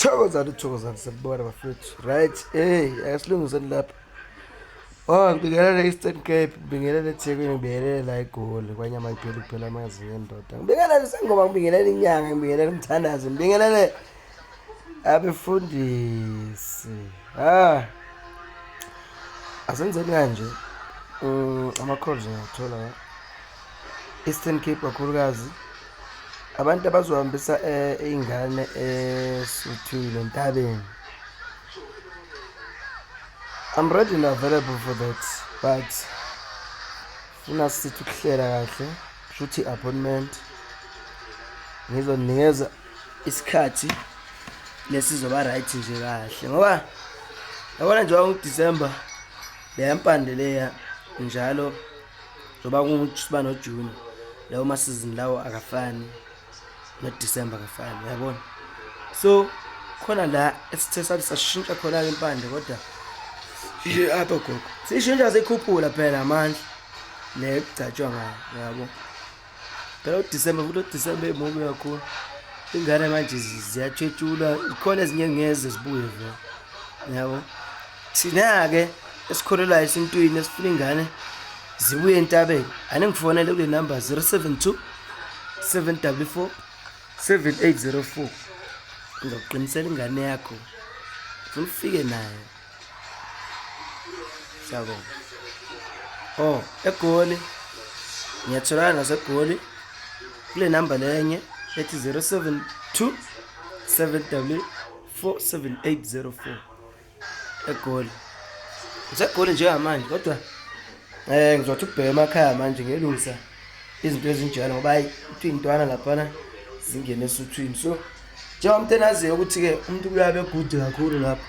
thokozani thokozani sembona bafethu right hey asilungiseni lapha oh ngibingelele eastern cape ngibingelele ethekwini ngibingelele la egoli kwanyama iphela kuphela amazinga endoda ngibingelele isengoba ngibingelele inyanga ngibingelele umthandazi ngibingelele abefundisi ah asenzeni kanje um ama-calls ngiyawathola eastern cape kakhulukazi abantu abazohambisa eh, ingane esuthwini eh, entabeni I'm ready and available for that but funa sithi ukuhlela kahle shuthi appointment ngizoninikeza isikhathi lesizoba right nje kahle ngoba yabona nje wangu December le yampande leya njalo njengoba kusiba nojuni lawo masizini lawo akafani nodisemba akafani uyabona so khona la esithe sathi sashintsha khona-ke impande kodwa ishe apha gogo siyishintsha siyikhuphula phela amandla le kugcatshwa ngayo yabo phela udisemba futhi udisemba emubi kakhulu ingane manje ziyatshetshula ikhona ezinye ngeze zibuye vele yabo thina-ke esikholelwayo esintwini esifuna ingane zibuye entabeni ane ngifonele kule namba 072 744 7804 ngizokuqinisela ingane yakho funa ufike nayo Siyabonga. Oh, eGoli. Ngiyatholana naseGoli. Kule number lenye ethi 072 7W 47804 eGoli. Ngisegoli njengamanje kodwa eh ngizothi ukubheka emakhaya manje ngiyelungisa izinto ezinjalo ngoba hayi kuthiwa iy'ntwana laphana zingene esuthwini so njengoba umuntu enaziyo ukuthi-ke umuntu kuyabe good kakhulu lapho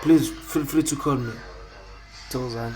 please feel free to call me thokozani